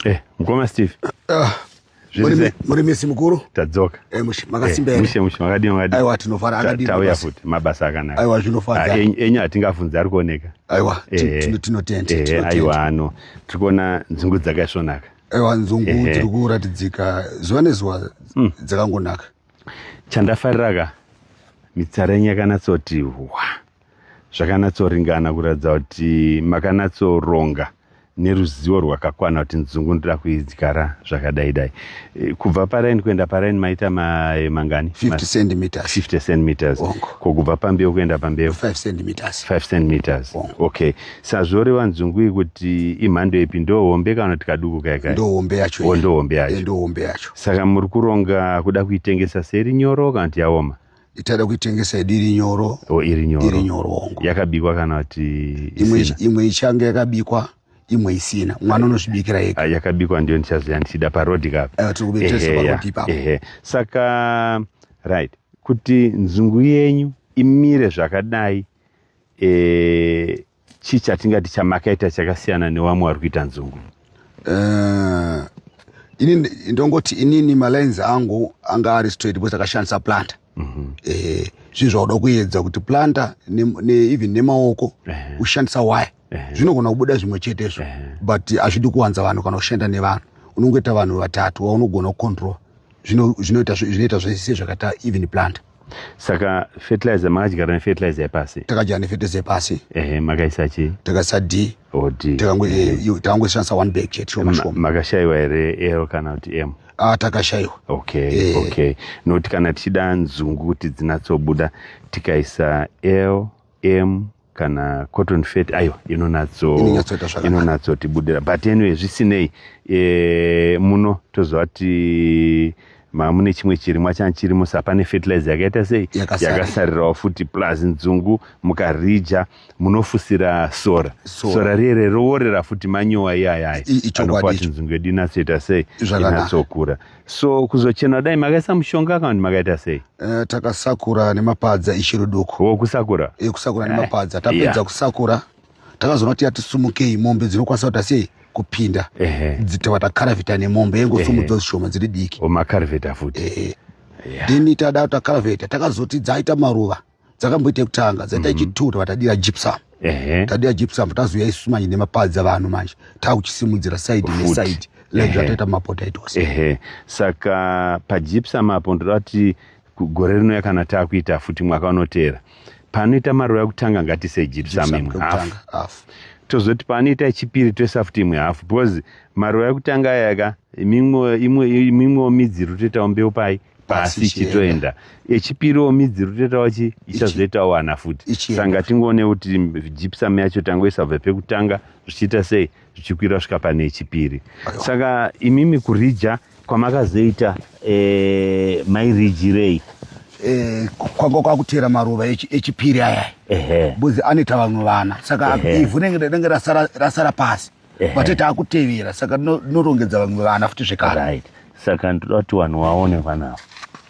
Eh, mukoma Steve. Ah. muri misi mukuru tadzoka eh, makasimberamushe eh, mushe makadii makadii aiwa tinofara akadii tauya futi mabasa akanaka aiwa zvinofara ah, enyu hatingafunzi ari kuoneka aiwa eh, tinotenda eh, aiwa ano tiri kuona nzungu dzakaisvonaka aiwa nzungu eh, tiri kuratidzika zuva nezuva mm. dzakangonaka chandafarira ka mitsara yenyu yakanatsotiwa zvakanatsoringana kuratidza kuti makanatsoronga neruzivo rwakakwana kuti nzungu ndoda kuidyara zvakadai dai e, kubva paraini kuenda paraini maita mae mangani 50 centimeters 50 centimeters ko kubva pambeu kuenda pambeu 5 centimeters 5 centimeters okay sazvoreva nzungu iyi kuti imhando ipi ndo hombe kana kuti kaduku kai kai ndo hombe yacho oh, ndo hombe yacho ndo hombe yacho saka muri kuronga kuda kuitengesa seri nyoro kana kuti yaoma itada kuitengesa idi iri nyoro o iri nyoro iri nyoro hongu yakabikwa kana kuti imwe isina imwe ichange yakabikwa imwe isina mwana unozvibikira ega Ah, yakabikwa ndiyo ndichaziva ndichida parodi kapi Eh, tiri kube tese Ehe, parodi ya, ipapo. ehe. saka right kuti nzungu yenyu imire zvakadai eh, chii chatingati chamakaita chakasiyana newamwe wari kuita nzungu uh, ini ndongoti inini malines angu anga ari straight because akashandisa planta mm -hmm. eh, zvinhu zvakuda kuedza kuti planta ne, ne, even nemaoko uh -huh. ushandisa waya uh -huh. zvinogona kubuda zvimwe chete izvo uh -huh. but hazvidi kuwanza vanhu kana kushanda nevanhu unongoita vanhu vatatu vaunogona kucontrol zvinoita zvese zvakaita even planta saka fertilizer makadyara nefertilizer yepasi takadyara nefertilizer yepasi ehe makaisa chi takaisa d o d takangoshandisa one bag chete shoma shoma makashaiwa here ero kana kuti m ah, takashaiwa okay eh. okay nokuti kana tichida nzungu kuti dzinatsobuda tikaisa l m kana cotton fet ayo inonatsotibudirira but anyway zvisinei e, muno tozova ti mamune chimwe chirimwa chani chirimo sa pane fertilizer yakaita sei yakasarirawo futi plus nzungu mukarija munofusira sora sora riere roworera futi manyowa iyayaya anopa kuti nzungu yedu inatsoita sei inatsokura so kuzochena dai makaisa mushonga kana kuti makaita sei uh, takasakura nemapadza ichiri duku wo kusakura e, kusakura eh, nemapadza tapedza yeah. kusakura takazoona kuti yatisumukei mombe dzinokwanisa kuita sei kupinda dzitova takaravheta nemombe yengosumudza zvishoma dziri diki omakaravheta oh, futi then tada takaravheta takazoti dzaita maruva dzakamboita yekutanga dzaita mm-hmm. ichituwo tavatadira gypsum tadira gypsum tazuya isu manje nemapadzi avanhu manje taakuchisimudzira side neside like zvataita mumapota itose ehe saka pagypsum apo ndoda kuti gore rino yakana taakuita futi mwaka unoteera panoita maruva ekutanga ngatise gypsum imwe hafu tozoti paanoita chipiri toisa futi imwe hafu because maruva ekutanga ayaka imwewo midzi iri kutoitawo mbeu pai pasi ichitoenda echipiriwo midzi rutetawo chi ichazoitawo ana futi sanga tingoone kuti gypsum yacho tangoisa bva pekutanga zvichiita sei zvichikwira svika pane echipiri saka imimi kurija kwamakazoita eh, mairijirei eh, kwanga kwakutera maruva echipiri aya bcause anoita vamwe vana saka ivhu renge rasara pasi vati takutevera saka tinorongedza vamwe vana futi zvekare right. saka ndoda kuti vanhu vaone vana ava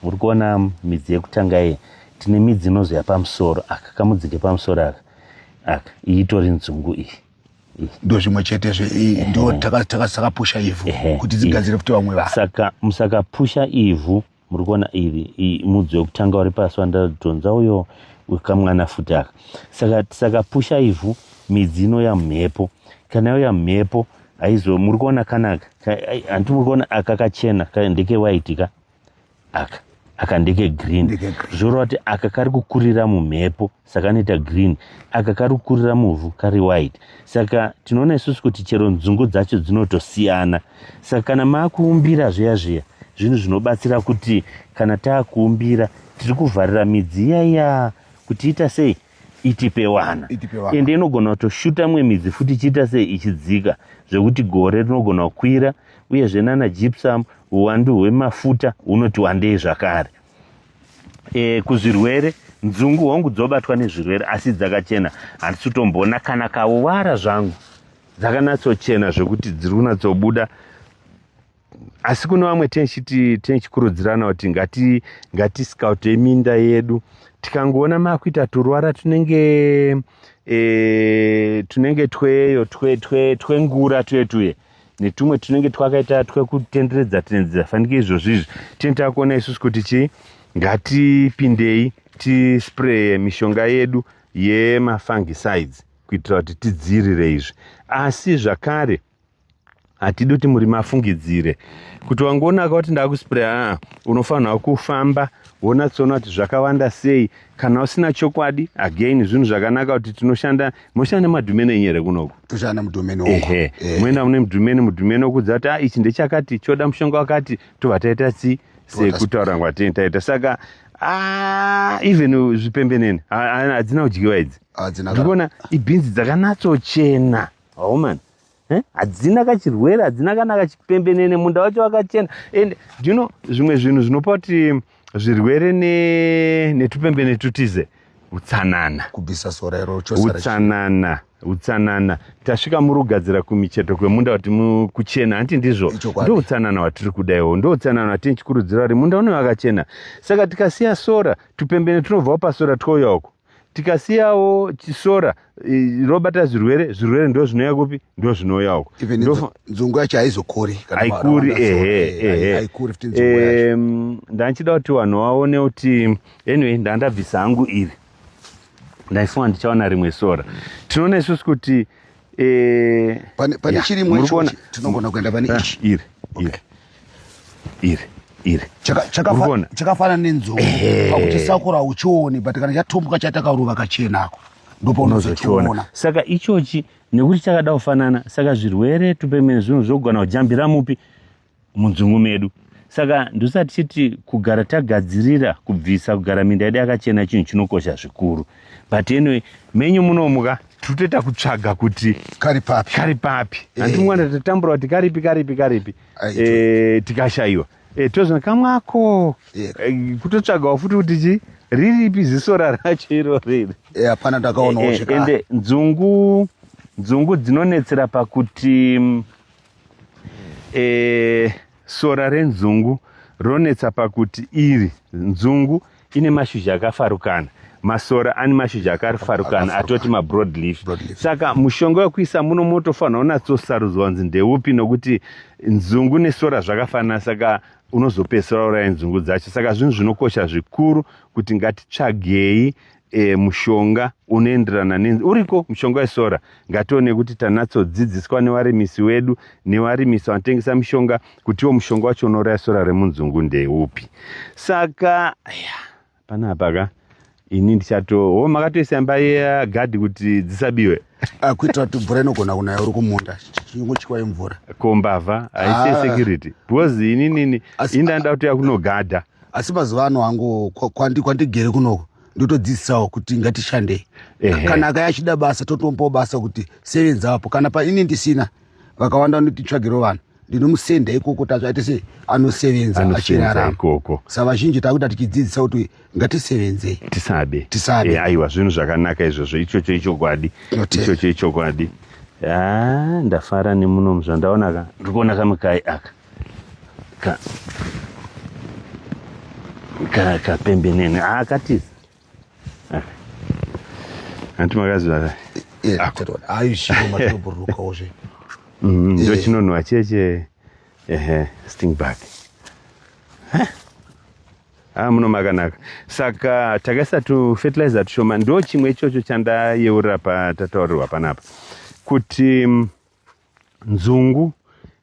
uri kuona midzi yekutanga iye tine midzi inozoya pamusoro aka kamudzike pamusoro aka aka iyi itori nzungu iyi ndo zvimwe chete zve ndo takapusha ivhu kuti dzigadzire futi vamwe vaa saka musakapusha ivhu muri kuona iri mudzi wekutanga uri pasi wandadhonza uyo wekamwana futi aka saka tisakapusha ivhu midzi inouya mhepo kana yauya mhepo haizo muri kuona kanaka hanti muri kuona aka kachena ndeke white ka aka aka ndeke green zvoreva kuti aka kari kukurira mumhepo saka anoita green aka kari kukurira muvhu kari white saka tinoona isusu kuti chero nzungu dzacho dzinotosiyana saka kana maakuumbira zviya zviya zvinhu zvinobatsira kuti kana taakuumbira tiri kuvharira midzi iyaiya kuti ita sei itipe wana ende inogona kutoshuta mwe midzi futi ichiita sei ichidzika zvekuti gore rinogona kukwira uyezve nana gypsum uwandu hwemafuta hunoti wandei zvakare e, kuzvirwere nzungu hongu dzobatwa nezvirwere asi dzakachena handisi kutomboona kana kauvara zvangu dzakanatsochena zvekuti dziri kunatsobuda asi kune vamwe tinichikurudzirana kuti ngati ngati scout yeminda yedu tikangoona makuita turwara tunenge e, tunenge tweyo twengura twe, twe, twe tuye tuye netumwe tunenge twakaita twekutenderedza tenderedza fanike izvozvi izvi tine takuona isusu kuti chii ngatipindei tispraye mishonga yedu yemafungicides kuitira kuti tidziirire izvi asi zvakare hatidi kuti murimi afungidzire kuti wangoonaka kuti ndakuspraya unofanirwa kufamba wonatsoona kuti zvakawanda sei kana usina chokwadi again zvinhu zvakanaka kuti tinoshanda moshanda nemadhumeni enyu here kunoku toshanda nemudhumeni ehe eh. moenda mune mudhumeni mudhumeni okudza kuti a ah, ichi ndechakati choda mushonga wakati tobva taita si sekutaura ngwatini taita saka ah, even zvipembenene hadzina kudyiwa idzi ndikuona ibhinzi dzakanatsochena homan oh, Eh? hadzina kachirwere hadzina kana kachipembenene munda wacho wakachena and you know zvimwe zvinhu zvinopa kuti zvirwere netupembene tutize utsanana kubvisa sora iro utsanana utsanana tasvika muri kugadzira kumicheto kwemunda kuti kuchena hanti ndizvo ndo utsanana hwatiri kuda iwo ndo utsanana hwatini chikurudziro vari munda une vakachena saka tikasiya sora tupembene tunobvawo pasora twouya uko tikasiyawo sora robata zvirwere zvirwere ndo zvinouya kupi ndo zvinouya uko nzungu yacho haizokuri haikuri ehe ehe ndandichida kuti vanhu vaone kuti anyway ndandabvisa hangu iri ndaifunga ndichaona rimwe sora tinoona isusu kuti eh, pane pane yeah, chirimwa muri icho kuona- chi- tinogona kuenda pane Ah, ichi iri iri iri iri Chaka- chakafa- Urikuona? chakafanana nenzou Ehe. pakuchisakura uchioni but kana chatombuka chatakarova kachenako ndoponozochiona unozochiona saka ichochi nekuti chakada kufanana saka zvirwere tupemene zvinhu zvogona kujambira mupi munzungu medu saka ndosaka tichiti kugara tagadzirira kubvisa kugara minda yedu yakachena chinhu chinokosha zvikuru but anyway menyu munomuka tiri kutoita kutsvaga kuti kari papi kari papi eh. handi mwana tatambura kuti karipi karipi karipi eh, tikashayiwa eh, tozvina kamwako kutotsvagawo futi kuti chii riripi zisora racho iro riri eh, hapana e, ndakaonawo eh, ende nzungu nzungu dzinonetsera pakuti mm, e, sora renzungu ronetsa pakuti iri nzungu ine mashizha akafarukana masora ane mashizha akafarukana atoti mabroad leaf saka mushonga wekuisa muno motofanira unatsosarudzwa kunzi ndeupi nokuti nzungu nesora zvakafanana saka unozopedzisira uraya nzungu dzacho saka zvinhu zvinokosha zvikuru kuti ngatitsvagei e, mushonga unoenderana ne uriko mushonga wesora ngatione kuti tanatsodzidziswa nevarimisi wedu nevarimisi vanotengesa mishonga kutiwo mushonga wacho unouraya sora remunzungu ndeupi saka ya panapa ka ini ndichato ho makatoisa imba yegadhi kuti dzisabiwe ah, kuitira kuti mvura inogona kunaya uri kumunda chingochikwa yemvura kombavha haisi ah. security because inini ini ndandida kuti yakunogadha asi mazuva ano hangu kwandigere kunoko ndotodzidzisawo kuti ngatishandei kana akaya achida basa totombawo basa kuti sevenza apo kana paini ndisina vakawanda vanotitsvagiro vanhu ndinomusenda ikoko tacho aite se anosevenza achiraraikoko sa vazhinji takuita tichidzidzisa kuti ngatisevenzei tisabe tisabe eh, aiwa zvinhu zvakanaka izvozvo ichocho ichokwadi ichocho ichokwadi ah, ndafara nemunomu zvandaonaka ndikuona kamukai aka ka ka kapembenene akatiza anti makaziva ka eh, ah. aishimatobhurukaozve mm, eh. ndochinonhuwa cheche ehe sting back ha ah, muno makanaka saka takaisa tufertilizer tushoma ndo chimwe ichocho chandayeurira patataurirwa panapa kuti mm, nzungu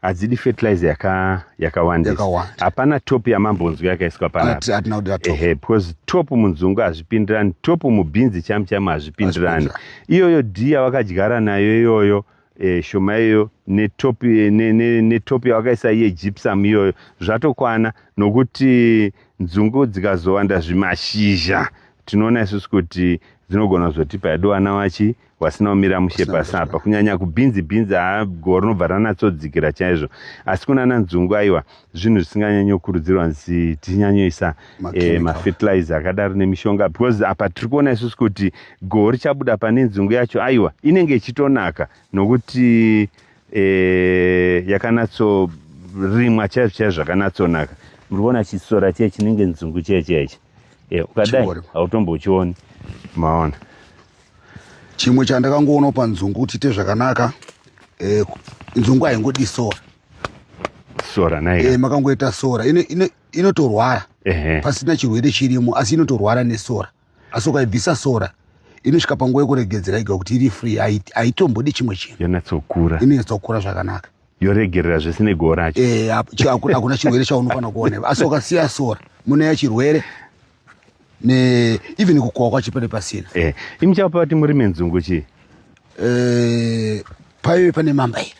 hadzidi fertilizer yaka yakawandisa hapana top yamambonzwi yakaiswa panaehe because top munzungu hazvipindirani top mubhinzi chamu chamu hazvipindirani iyoyo d yawakadyara nayo iyoyo e, shoma iyoyo netop ne, ne, ne yawakaisa iye gypsum iyoyo zvatokwana nokuti nzungu dzikazowanda zvimashizha tinoona isusu kuti dzinogona kuzotipa yadowana wachi wasina kumira mushe pasi apa kunyanya kubhinzi bhinzi haa goho rinobva ranatsodzikira chaizvo asi kunana nzungu aiwa zvinhu zvisinganyanyokurudzirwa nzi tichinyanyoisa eh, mafertilizer akadaro nemishonga because apa tiri kuona isusu kuti goho richabuda pane nzungu yacho aiwa inenge ichitonaka nokuti eh, yakanatsorimwa chaizvo chaizvo zvakanatsonaka muri kuona chisora chee chinenge nzungu chee chee chii e, ukadai hautombochioni maona chimwe chandakangoonawo panzungu kuti ite zvakanaka e, nzungu haingodi sora sora nai e, makangoita sora inotorwara ino, pasina chirwere chirimo asi inotorwara nesora asi ukaibvisa sora inosvika panguva yekuregedzera iga kuti iri free haitombodi chimwe chinhu yonyatsokura inoyatsokura zvakanaka yoregerera zvese negoho racho eh, hakuna chirwere chaunofanira kuona asi ukasiya sora mune ya chirwere ne even kukohwa kwacho pane pasina eh, imi chapa pati murime nzungu chii eh, paive pane mamba iri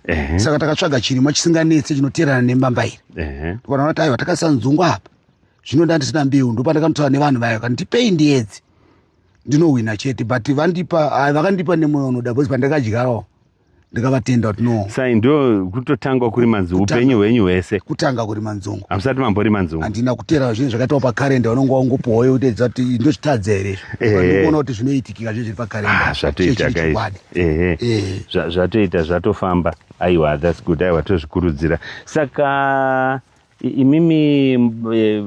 eh. saka takatsvaga chirimwa chisinganetse chinoteerana nemamba iri eh. tikaona kuti aiwa takasisa nzungu apa zvino ndandisina mbeu ndopandakanotaura nevanhu vayo kana tipei ndiedzi ndinohwina chete but vandipa vakandipa nemoyo unoda bcause pandakadyarawo ndikavatenda kuti no sai ndo kutotanga kuri manzungu upenyu hwenyu hwese kutanga kuri manzungu hamusati mambori manzungu handina kutera zvinhu zvakaitawo pakarenda unonge wangopuwa uye utedza kuti ndochitadza here izvikuona kuti zvinoitikika zvinhu zviri pakarenda ah, zvatoita kaizvi ehe eh. zvatoita zvatofamba aiwa thats good aiwa tozvikurudzira saka imimi eh,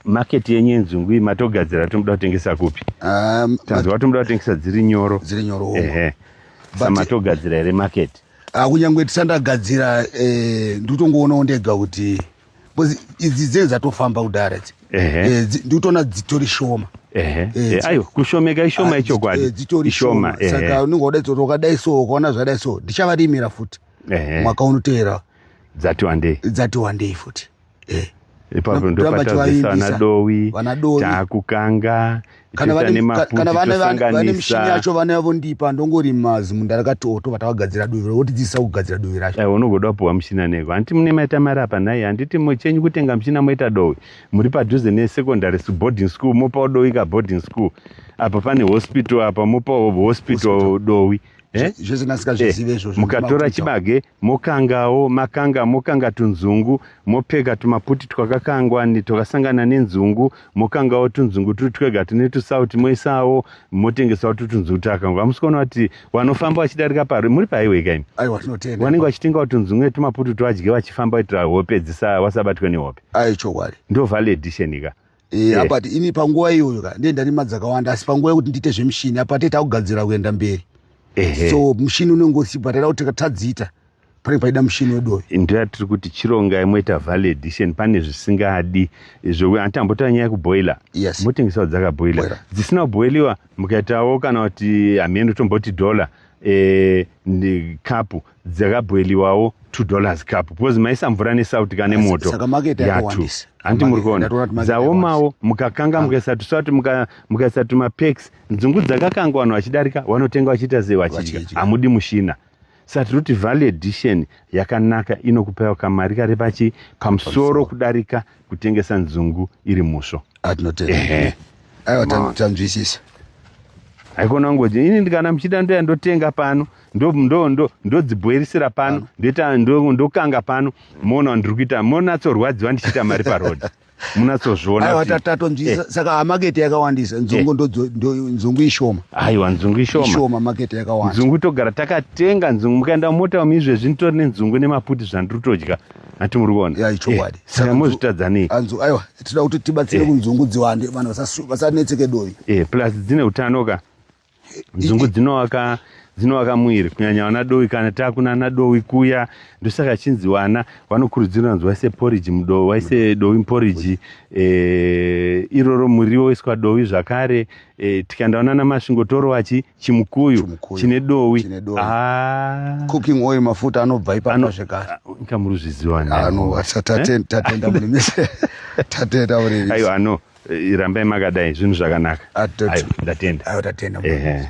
Market yenyu yenzungu iyi matogadzira tomuda kutengesa kupi? Ah, Tanzwa kuti muda kutengesa dziri nyoro. Dziri nyoro. Ehe. Saka matogadzira here market? Ah, kunyangwe tisandagadzira eh, ndikutongoonawo ndega kuti because idzi dzenyu dzatofamba kudhara idzi. Ehe. Eh, dzi- ndikutoona dzitori shoma. Ehe. Eh, Eh, dzi- Ayo kushomeka ishoma Ah, ichokwadi. eh, dzitori Ishoma. shoma. Saka Ehe. unenge wadaidza kuti wakadai so ukaona zvadai so ndichavarimira futi Ehe. mwaka unoteera Dzati wandei. dzati wandei futi. eh. ipapo ndopatadzisana dowi taakukanga kana vane mishini yacho vana vondipa ndongori mazimu ndarakatoto vatavagadzira duvi votidzidzisa kugadzira duvi racho eh, unogoda kupiwa mushina neko hanti mune maita mari apa nhai handiti mochenyu kutenga mushina moita dowi muri padhuze nesecondary boarding school mopawo dowi ka boarding school apa pane hospital apa mopawo hospital dowi eh? zvese nasika zvizive eh, izvozvo mukatora chibage mokangawo makanga mokanga tunzungu mopfeka tumaputi twakakangwa twakasangana nenzungu mokangawo tunzungu turi twega tune tusauti moisawo motengesawo tutunzungu twakakangwa hamusi kuona kuti vanofamba vachidarika pari muri paiweka imi vanenge vachitengawo tunzungu netumaputi twavadye vachifamba kuitira hope dzisa vasabatwe nehope ndo vale edition ka Eh, Yeah. apa ti- ini panguva iyoyo ka ndiye ndarima dzakawanda asi panguva yekuti ndiite zvemushini apa tete akugadzira kuenda mberi Ehe. so mushini unenge usipo taida kuti tadziita pane paida mushini wedoyo ndoya tiri kuti chirongai moita value addition pane zvisingadi zvokuti anti ambotaura nyaya yekuboiler Yes. motengesawo dzakaboiler Boiler. dzisina kuboiliwa mukaitawo kana kuti hameno tomboti dollar eh, ndi- kapu dzakabhoiliwawo two dollars cup because maisa mvura nesauti kane moto yatu handi muri kuona dzaomawo mukakanga mukaisa tusauti mukaisa tumapex nzungu dzakakanga vanhu vachidarika vanotenga vachiita sei vachidya hamudi mushina saka tiri kuti value edition yakanaka inokupaiwa kamari kari pachi pamusoro kudarika kutengesa nzungu iri musvo atinotengaiwa ah, tanzwisisa haikona ngoji ini ndikana muchida ndoya ndotenga pano ndodzibhoirisira pano ndoita ndokanga pano moona ndiri kuita monatsorwadziwa ndichiita mari paroad munatsozvionatatonzwisa eh. saka hamakete yakawandisa eh. nzungu ishoma aiwa nzungu ishoma makete yakawanda nzungu togara takatenga nzungu mukaenda mumota umu izvezvi nditori nenzungu nemaputi zvandiri kutodya hati muri kuona ya ichokwadi eh, saka mozvitadza nei anzu aiwa tinoda kuti tibatsire eh. kunzungu dziwande vanhu vasanetseke dovi eh plus dzine utano ka nzungu dzinowaka dzinowaka mwiri kunyanya vana dovi kana takuna ana dovi kuya ndosaka chinzi vana vanokurudzirwa nzi waise poriji mudovi waise dovi muporiji eh, iroro muriwo waiswa dovi zvakare eh, tikaenda vana namasvingo torowachi chimukuyu Chimukuyu. chine dowi Chine dowi. Ah, cooking oil mafuta anobva ipapo Ano- zvekare nyika muri zviziva nani? ano asa taten- tatenda mune mise tatenda mune mise ayo ano eh, rambai makadai zvinhu zvakanaka Atoti. Ayo, ndatenda ayo tatenda mune Ehe. mise